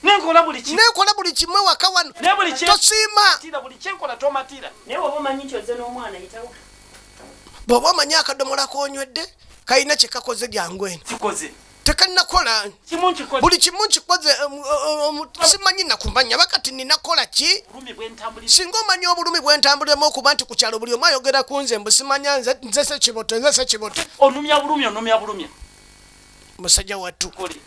nenkola buli kimu nenkola buli kimu ewaka wano ne buli kye tosiima tira buli kye nkola tomatira naye waba omanyi nti oze n'omwana yitawo bw'oba omanyi akadomola konywedde kalina kye kakoze byangu eno kikoze tekannakola kimu nkikoze buli kimu nkikoze um, um, um, simanyi nakumanya bakati ninakola ki bulumi bwentambulira singa omanyi obulumi bwentambuliramu okuba nti ku kyalo buli omu ayogera ku nze mbu simanya nze nze sekiboto nze sekiboto onumya bulumi onumya bulumi musajja wattu kuli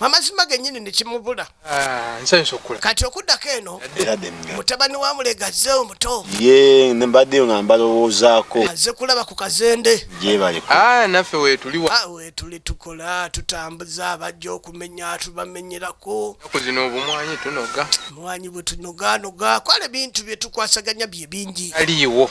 amazima genyini nekimubula ah, kati okuddako eno mutabani wa mulega azze omuto ye mbaddeyo nga mbalowoozaako azze kulaba ku kazende jebalinaffe ah, wetuli ah, wetuli tukola tutambuza abajja okumenya tubamenyerako kuzina obumwanyi tunoga mwanyi bwetunoganoga kwala ebintu byetukwasaganya bye bingi aliiwo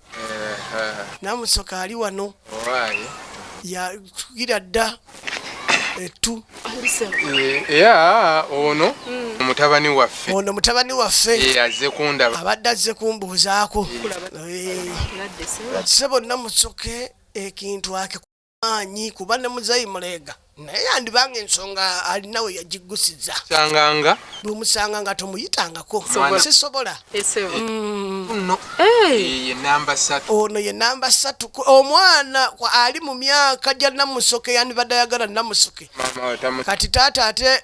namusoka ali wano yatukira dda ettu ya ono hmm. mutabani waffe ono mutabani waffe azze kundaba abadde azze kumbuuzaako se bonna musoke ekintu ake maanyi kuba ne muzeeyi muleega naye yandibanga ensonga alina we yagiggusiza sanganga bwemusanga nga tomuyitangako sisobola mm. ono ye namba satu omwana ali mu myaka gya namusoke yandibadde ayagala namusoke kati taata ate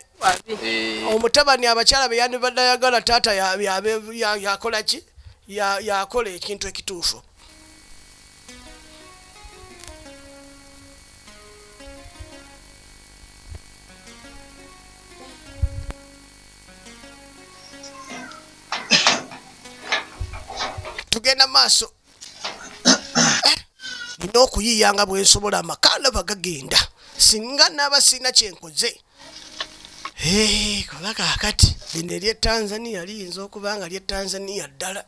eh. omutabani abakyala be yandibadde ayagala taata yakola ki yakola ekintu ekituufu tugenda maaso nina eh, okuyiiya nga bwensobola amaka ndaba gagenda singa naaba sirina kyenkoze Hey, kola kakati lino erye tanzania liyinza okuba nga lye tanzania ddala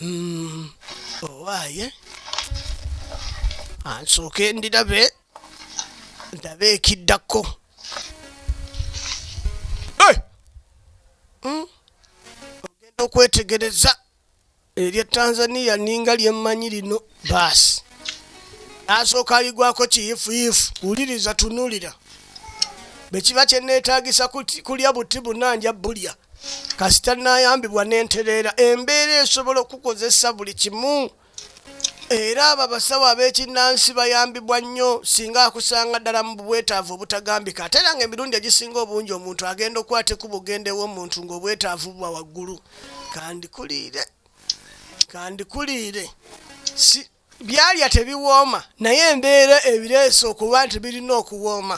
mm, owaaye ansooke ah, ndirabe ndabe ekiddako hmm? ogenda okwetegereza Erye Tanzania ninga lyemmanyi lino baasi. Asooka aligwako kiyifuyifu. Wuliriza tunulira. Bwe kiba kye neetaagisa kulya buti buna nja bulya. Kasita nayambibwa ne ntereera embeera esobola okukozesa buli kimu. Era abo abasawo ab'ekinnansi bayambibwa nnyo singa akusanga ddala mu bwetaavu obutagambika ate era ng'emirundi egisinga obungi omuntu agenda okukwata ekkubo okugenda ew'omuntu ng'obwetaavu buba waggulu. Kandikuliire, kandikuliire, si. Byalya tebiwooma naye embeera ebireese okuba nti birina okuwooma.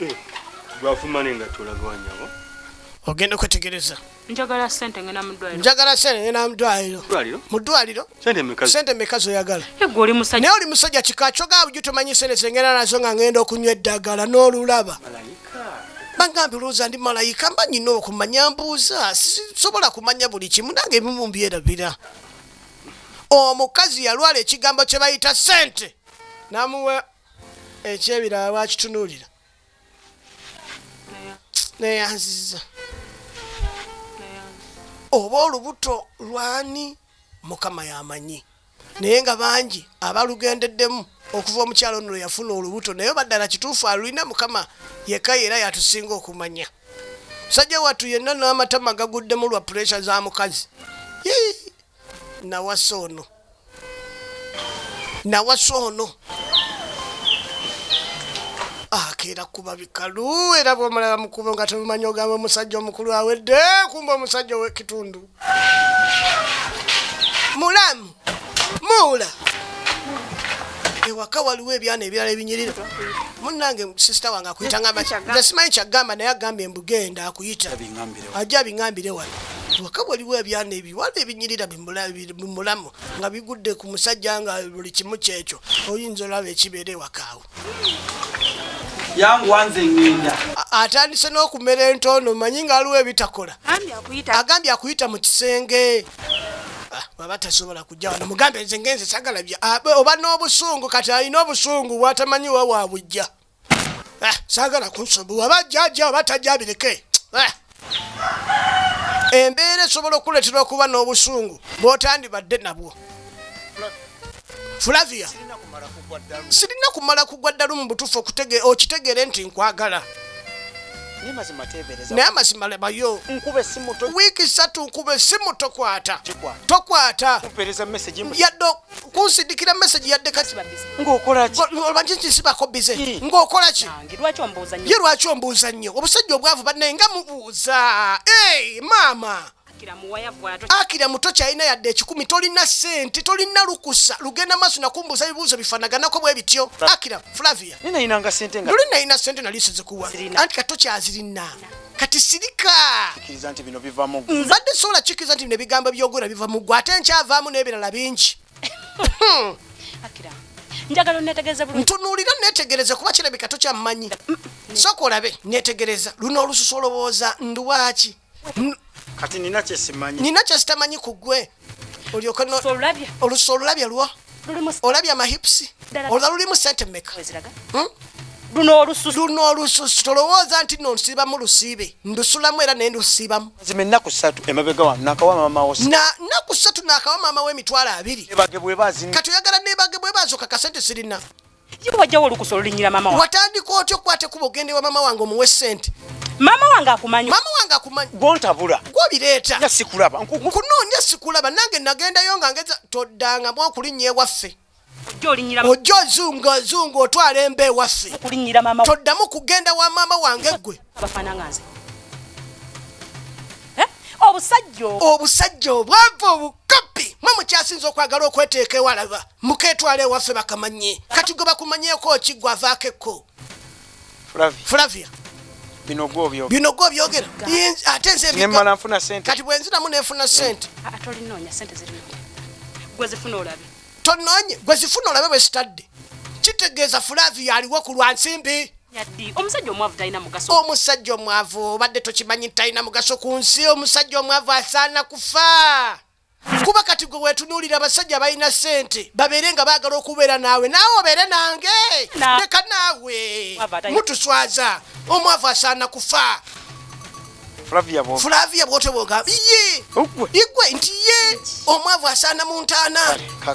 Eh, Gwafumane nga tolagawa nyabo. Ogenda kwetegereza. Njagala sente ngena mudwaliro. Njagala sente ngena mudwaliro. Mudwaliro? Mudwaliro? Sente mekazo. Sente mekazo yagala. Ego oli musajja. Naye oli musajja kika kyoga buju tomanyi sente zengena nazo nga ngenda okunywa eddagala n'olulaba. Malayika. Bangambi olowooza ndi malayika mba nyina okumanya mbuuza sisobola kumanya buli kimu nange ebimu mbyerabira. Omukazi yalwala ekigambo kye bayita sente. Namuwe ekyebirala lwakitunuulira neyanziza oba olubuto lwani mukama yamanyi naye nga bangi abalugendeddemu okuva omukyalo ono lweyafuna olubuto naye baddala kituufu alulina mukama yekka era yatusinga okumanya musajja wattu yenna n'amatama gaguddemu lwa puresha za mukazi nawasa ono nawasa ono akeera kuba bikalu era bwomulaba mukubo nga temumanyi ogamba omusajja omukulu awedde kumba omusajja owekitundu mulamu muula ewaka waliwo ebyana ebirala ebinyirira munange sisita wange akuyita ngamba simanyi kyagamba naye agambye mbugenda akuyita ajja abingambire wano waka waliwo ebyana ebiwala ebinyirira bimulamu nga bigudde ku musajja nga buli kimu kyekyo oyinza olaba ekibeera ewakaawo atandise n'okumera entoono manyi nga aliwo ebitakola agambye akuyita mu kisenge baba tasobola kujja wano mugambe nze ngenze sagala bya ah, oba n'obusungu kati alina obusungu bwatamanyi wa wabujja Eh, saagala kunsumbuwa aba jjajja oba tajja abireke eh. embeera esobola okuleetera okuba n'obusungu bw'otandibadde nabwo flavia sirina kumala kugwa ddalu mu butuufu okitegeere nti nkwagala naye amazima lebayo wiiki satu nkube simu tokwata tokwata yadde kunsindikira message yadde kati ng'okola ki omanyi nti sibako bize hmm. ng'okola ki ye lwaki ombuuza nnyo obusajja obwavu bannaye nga mubuuza e maama akira muto kyalina yadde ekikumi tolina sente tolina lukusa lugenda maaso nakumbuuza ebibuuzo bifanaganako bwe bityo akira flavia nali nalina sente nali sizikuwa anti kati tokyazirina kati sirika kiriza nti bino biva mu gwe mbadde sobola kikiriza nti bino ebigambo byogera biva mu gwe ate nkyavaamu n'ebirala bingi njagala onetegereze bulungi ntunuulira netegereze kuba kirabika tokyammanyi mm, mm. sooka olabe netegereza luno olususu olowooza nduwaaki kati nina kyesimanyi nina kyesitamanyi ku gwe olyoka olusa olulabya lwa olabya amahipusi olwa lulimu sente meka hmm? luno olususu tolowooza nti no nsiibamu lusiibe ndusulamu era naye ndusiibamu zima ennaku satu emabega wano nakawa maama wo na nnaku satu nakawa maama wo emitwalo abiri kati oyagala nebage bwebazoka kasente sirina Yo wajjawo olukusa olulinyira mama wange. Watandika otyo kwate kuba ogende wa mama wange omuwe sente. Mama wange akumanyi. Mama wange akumanyi. Gwontabula. Gwobireeta. Nga sikulaba. Nkunoonya sikulaba nange nagendayo nga ngeza toddanga mu okulinnya ewaffe. Ojja ozunga ozunga otwala emba ewaffe. Toddamu kugenda wa maama wange ggwe. Eh? Obusajja obwavu obukopi mwe mukyasinza okwagala okweteeka ewalaba. muketwala ewaffe bakamanye kati gwe bakumanyeeko ki gwe avaako ekko flavia bino gwe obyogera ate nzemala nfuna sente kati bwenzinamu nenfuna sente tononye gwe zifuna olabe bwezitadde kitegeeza flavia aliwo ku lwa nsimbi omusajja omwavu talina mugaso omusajja omwavu obadde tokimanyi talina mugaso ku nsi omusajja omwavu asaana kufa kuba kati gwe wetunuulira abasajja balina ssente babeere nga baagala okubeera naawe naawe obeere nange leka naawe mutuswaza omwavu asaana kufa flavia bwotobwoga ye igwe nti ye omwavu asaana mu ntaana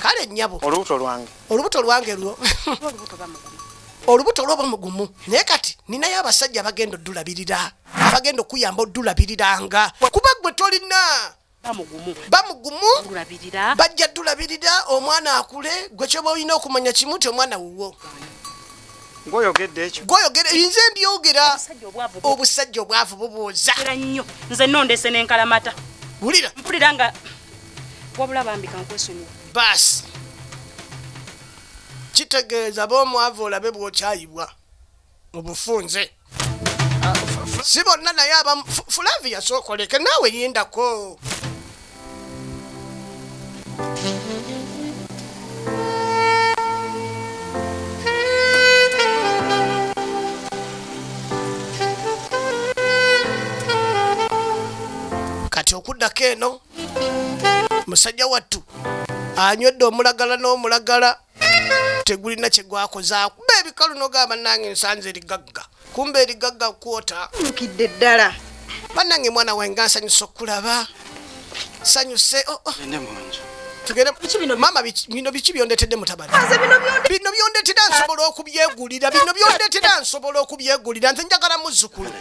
kale nnyabo olubuto lwange olubuto lwange lwo olubuto lwoba mugumu naye kati ninayo abasajja abagenda odulabirira abagenda okuyamba odulabiriranga kuba gwe tolina bamugumu bajja tulabirira omwana akule gwe kyoba olina okumanya kimu ti omwana wuwo gwoyogedde ekyo gwoyogere nze mbyogera obusajja obwavu bubuuza nnyo nze nondese nenkalamata wulira mpulira nga wabula bambi kankwesonyiwa baasi kitegeeza bomwavu olabe bwokyayibwa mu bufunze si bonna naye abamu Fu- flavia sookoleke naawe lindako kati okuddako eno musajja wattu anywedde omulagala n'omulagala tegulina kyegwakoza kuba ebikalu nogamba nange nsanze erigagga kumba erigagga kwota nukidde ddala banange mwana wange ansanyusa okulaba sanyuse oh, oh. bino biki byondetedde mutabani bino byondetera nsobola okubyegulira bino byondetera nsobola okubyegulira nze njagala muzukulu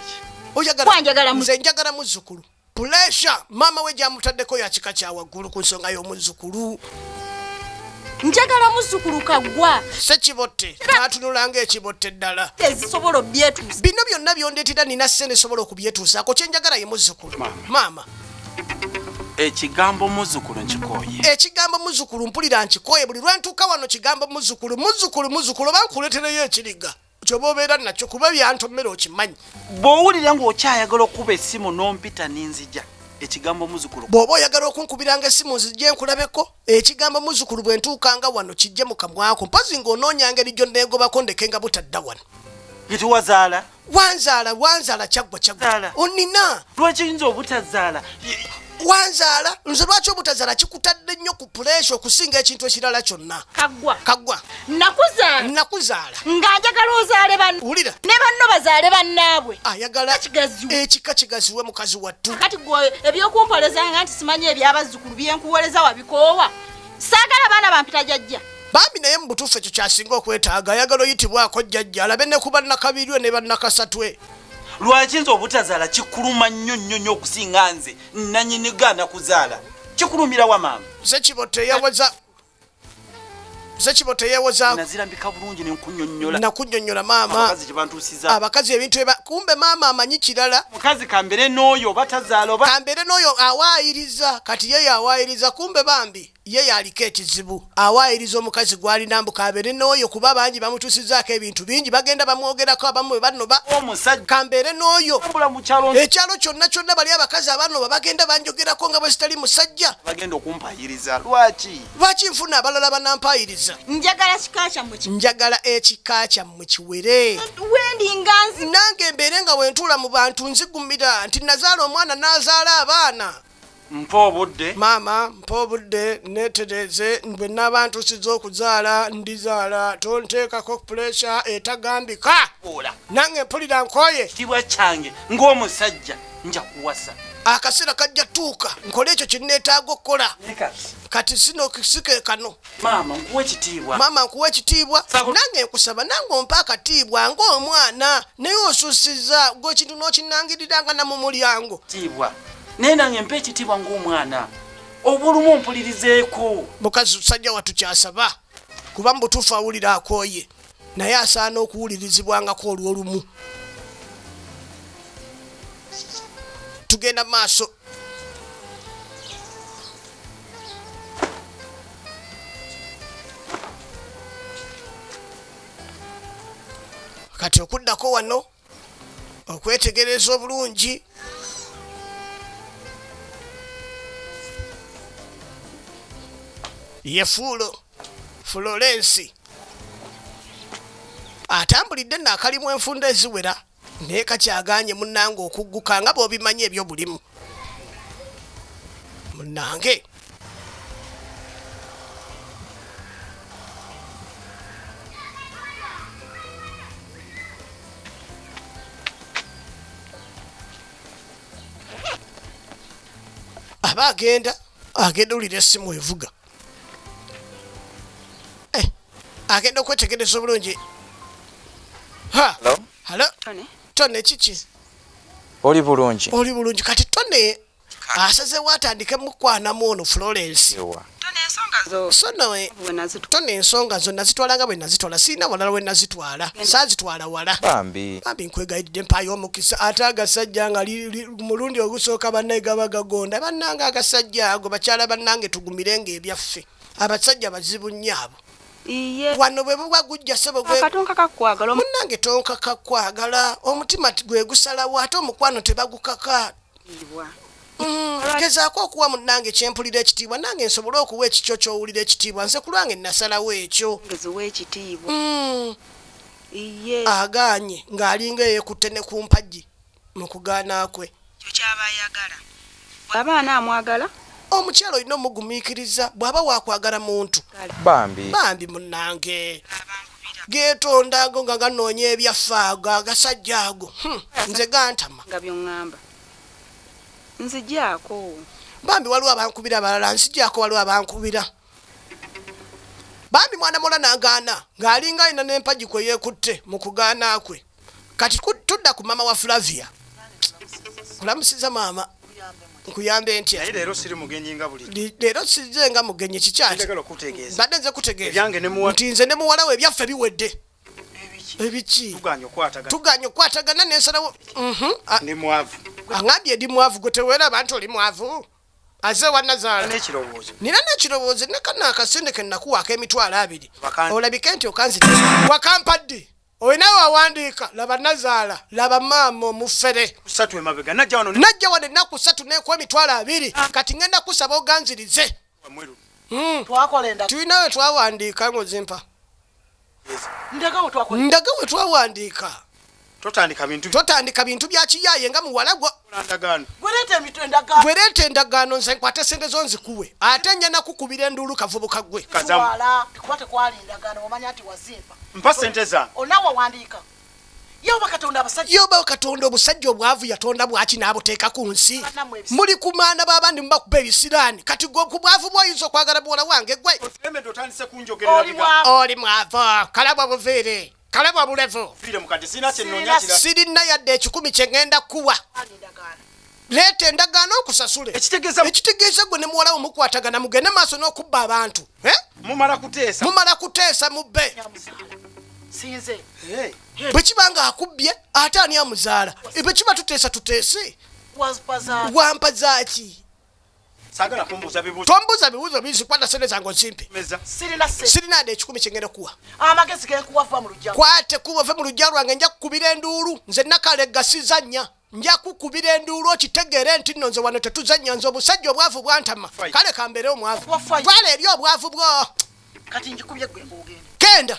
oyagala nze njagala muzukulu Puleesha maama we gy'amutaddeko ya kika kya waggulu ku nsonga y'omuzzukulu. njagala muzzukulu kaggwa sekibotte n'atunulanga ekibotte ddala ezisobola obyetuusa bino byonna byondeetera nina ssente esobola okubyetuusaako kye njagala ye muzzukulu maama ekigambo muzukulu nkikoye ekigambo muzukulu mpulira nkikoye buli lwentuuka wano kigambo muzukulu muzukulu muzukulu oba nkuletereyo ekiriga kyoba obeera nakyo kuba byantomera okimanyi bw'owulira ng'okyayagala okukuba essimu n'ompita ninzija ekigambo muzukulu bw'oba oyagala okunkubiranga essimu nzijje nkulabeko ekigambo muzukulu bwe ntuukanga wano kijje mu kamwako mpozi ng'onoonya ngeri gyonneegobako ndeke nga butadda wano kiti wazaala wanzaala wanzaala kyaggwa kyaggwa onina lwekiyinza obutazaala wanzaala nze lwaki obutazaala kikutadde nnyo ku puleesa okusinga ekintu ekirala kyonna kagwa kagwa nakuzaala nakuzaala nga njagala ozaale ban wulira ne banno bazaale bannaabwe ayagala ekika kigaziwe mukazi wattu kati gwe ebyokumpolezanga nti simanyi ebyabazzukulu byenkuwoleza wabikoowa saagala baana bampita jajja bambi naye mu butuufu ekyo kyasinga okwetaaga ayagala oyitibwako jjajja alabe ne ku bannakabirwe ne bannakasatwe lwaki nze obutazaala kikuluma nnyo nnyo nnyo okusinga nze nanyini gaana kuzaala kikulumira wa maama zekibo teyawaza zekibo teyewozanazirambika bulungi nenkunyonyola nakunyonyola maama abakazi ebintu eba kumbe maama amanyi kirala mukazi kambere n'oyo oba tazaala oba kambere n'oyo awaayiriza kati yeyo awaayiriza kumbe bambi Ye y'aliko ekizibu. Awaayiriza omukazi gw'alina mbu k'abeere n'oyo kuba bangi bamutuusizzaako ebintu bingi. Bagenda bamwogerako abamu bwe banoba. Omusajja. Kambeere n'oyo. Tambula mu kyalo. Ekyalo kyonna kyonna bali abakazi abanoba bagenda banjogerako nga bwe sitali musajja. Bagenda okumpaayiriza. Lwaki? Lwaki nfuna abalala abanampaayiriza? Njagala kika kyammwe kiwere. Njagala ekika kyammwe kiwere. We ndi nga nzigumira. Nange mbeere nga bwe ntuula mu bantu nzigumira nti nnazaala omwana n'azaala abaana. mpa obudde maama mpa obudde neetereeze bwe naaba ntuusiza okuzaala ndizaala tonteekako puleesa etagambika ola nange mpulira nkooye kitibwa kyange ng'omusajja nja kuwasa akaseera kajja tuuka nkole ekyo kye neetaaga okukola kati sino kisike kano maama nkuwa ekitiibwa maama nkuwa ekitiibwa nange nkusaba nange ompa akatiibwa ng'omwana naye osusiza gwe ekintu n'okinangirira nga namu mulyango tiibwa naye nange mpa ekitiibwa ng'omwana obulumu ompulirizeeko mukazi sajja watukyasaba kuba mubutuufu awulira akooye naye asaana okuwulirizibwangako olw'olumu tugenda maaso kati okuddako wano okwetegereza obulungi ye fuulo fulorensi atambulidde naakalimu enfunda eziwera naye kakyagaanye munnange okugguka nga bw'obimanyi ebyobulimu munange aba agenda agenda owulira essimu evuga eh, agenda okwetegereza obulungi halo tony kiki oli bulungi oli bulungi kati tone asazewo atandike mukwanamu ono florence tone ensonga zo nazitwala nga bwenazitwala sirina walala wenazitwala sazitwala wala bambi nkwegayidde mpayo omukisa ate agasajja nga mulundi ogusooka banaye gaba gagonda banange agasajja ago bakyala banange tugumirenga ebyaffe abasajja bazibu nnyo abo iye wano bwe buba gujja sebo gwe akatonka kakwagala omu- munange tonka kakwagala omutima ti- gwe gusalawo ate omukwano tebagukaka Ibwa. Mm, gezaako okuwa munange kyempulira ekitiibwa nange nsobole okuwa ekikyo kyowulira ekitiibwa nze ku lwange nasalawo ekyo ngezi w'ekitiibwa Mm, iye agaanye ng'alinga eyekutte ne ku mpagi mu kugaana kwe. Ekyo ky'aba ayagala. Bw'aba anaamwagala. Omukyala olina omugumiikiriza bw'aba waakwagala muntu. Bambi. Bambi munnange. Abankubira. Geetonda ago nga ganoonya ebyaffe ago agasajja ago. Hmm, nze gantama. Nga by'oŋŋamba. Nzigyako. Bambi waliwo abankubira abalala, nzigyako waliwo abankubira. Bambi mwana muwala n'agaana ng'alinga alina n'empagi kwe yeekutte mu kugaana kwe. kati tudda ku mama wa flavia kulamusiza maama nkuyambe ntya leero siri mugenyi nga buli leero size nga mugenyi kikyaki mbadde nze kutegeeza nti nze ne muwala we ebyaffe biwedde ebiki tuganye okwatagana nensalawo mhm. aŋambye ndi mwavu gwe teweera abantu oli mwavu aze wanazaala nina nekirowoozo nekanaakasente kenakuwaako emitwalo abiri olabike nti okanzite wakampadde Olina wawandiika laba nazaala laba maama omufere. Kusatu emabega najja wano najja wano ennaku kusatu nekuwa emitwalo abiri ah. kati ngenda kusaba oganzirize hmm. tulina we twawandiika ngozimpa ndaga we twawandiika totandika bintu totandika bintu bya kiyaye nga muwala gwo gwereeta endagaano nze nkwate sente zo nzikuwe ate nja nakukubira enduulu kavubuka gwe mpa sente zange onawe wandiika yoba katonda abasajja yoba katonda obusajja obwavu yatonda bwaki n'abuteeka ku nsi muli ku maana b'abandi mubakuba ebisiraani kati gwe ku bwavu bwoyinza okwagala buwola wange gwe oli mwavu kalabwa buviire kalabwa bulevu sirina yadde ekikumi kye ŋŋenda kukuwa leeta endagaano okusasule ekitegeeza gwe ne muwalawo mukwatagana mugende maaso n'okubba abantu eh? mumala kuteesa mubbe bwe kiba nga akubbye ate ani amuzaala eh, bwe kiba tuteesa tuteese wampa zaaki tombuuza bibuuzo bingi kwata sente zange ozimpe sirina de ekikumi kyengenda kuwa kwate kuba ove mu lujja lwange nja kukubira enduulu nze nakale gasiza nnya nja kukubira enduulu okitegeere nti nno nze wano tetuzannya nze obusajja obwavu bwantama kale kambeere omwavu twala eri obwavu bwo kenda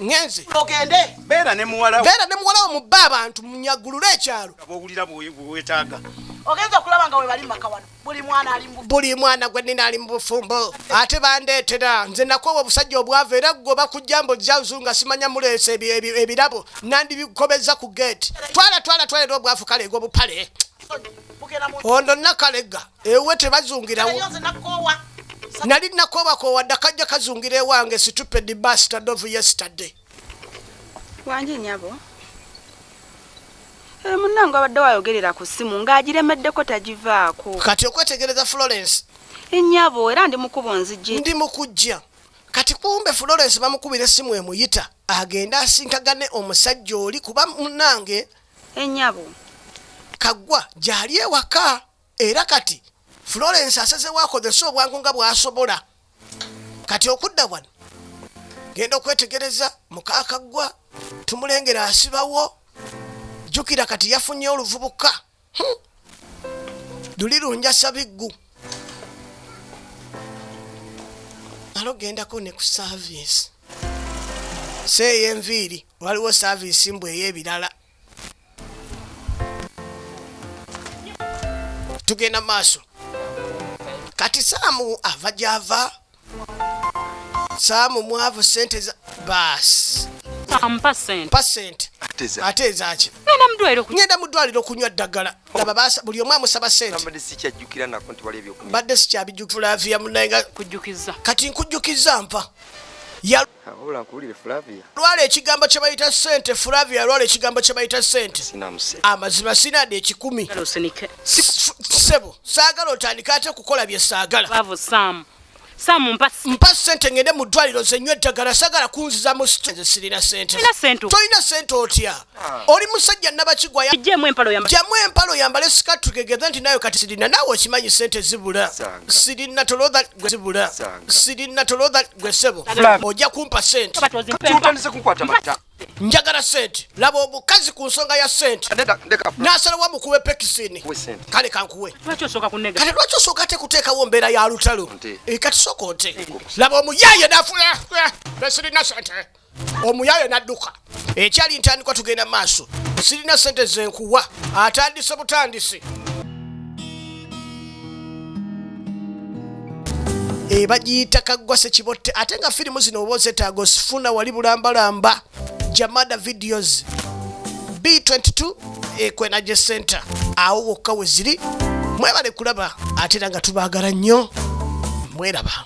ngenze ogende beera ne muwalawo beera ne muwalawo mubba abantu munyagulule ekyalo ogenza okulaba nga webali mumaka wano buli mwana gwe nina ali mu bufumbo ate bandeetera nze nakoowa obusajja obwava era gwe bakujja mbu jazu nga simanya muleesa ebirabo nandibikobezza ku geeti twala twala twala era obwavu kaleega obupale ono nakalega ewe tebazungirawo nali nakoowa koowa dda kajja kazungira ewange situpedi basta dovu yesterday wanje nyabo eh, munange abadde wayogerera ku ssimu ng'agiremeddeko tagivaako kati okwetegereza florence enyabo eh, era ndi mukubo nzijje ndi mukujja kati kumbe florence bamukubira essimu emuyita agende asinkagane omusajja oli kuba munange enyabo eh, kaggwa gyali ewaka era kati florence asazewo akozese obwangu nga bwasobola kati okudda wano genda okwetegereza mukakaggwa tumulengera asibawo jjukira kati yafunye oluvubuka hmm. luli lunjasa biggu alogendako ne ku saavisi seeyo enviiri waliwo saavisi mbu ey'ebirala tugenda maaso kati saamu ava gyava saamu mwavu sente za baasi ate ezaki ngenda mu ddwaliro okunywa ddagala laba buli omu amusaba sentebadde sikyabijukulaviya munaye kati nkujjukiza nfa Wabula nkuwulire Flavia. Lwala ekigambo kye bayita ssente Flavia lwala ekigambo kye bayita ssente. Amazima sina de ekikumi. Sebo saagala otandika ate kukola bye saagala. Bavu Sam. Sam mpa mpa ssente ngende mu ddwaliro zenywe eddagala sagala kunziza mu ssente sirina ssente. Tolina ssente otya? Ah. oli musajja nabakigwa jamu empalo yambale sikatu kegeze nti nayo kati sirina nawe okimanyi sente zibula sirina tolodha gwe zibula sirina tolodha gwe sebo ojja kumpa sente njagala sente laba omukazi ku nsonga ya sente nasalawa mukuwe pekisini kale kankuwe kati lwaki osooka te kuteekawo mbeera ya lutalo eh, kati soko nte laba omuyaye nafula eh, eh, sirina sente omuyaye n'adduka ekyali ntandikwa tugenda maaso sirina sente zenkuwa atandise butandisi ebagiyita eh, kaggwa sekibotte ate nga firimu zino oba ozetaaga osifuna wali bulambalamba jamada videos b22 ekwenaje eh, center awo wokka we ziri mwebale kulaba ate era nga tubaagala nnyo mweraba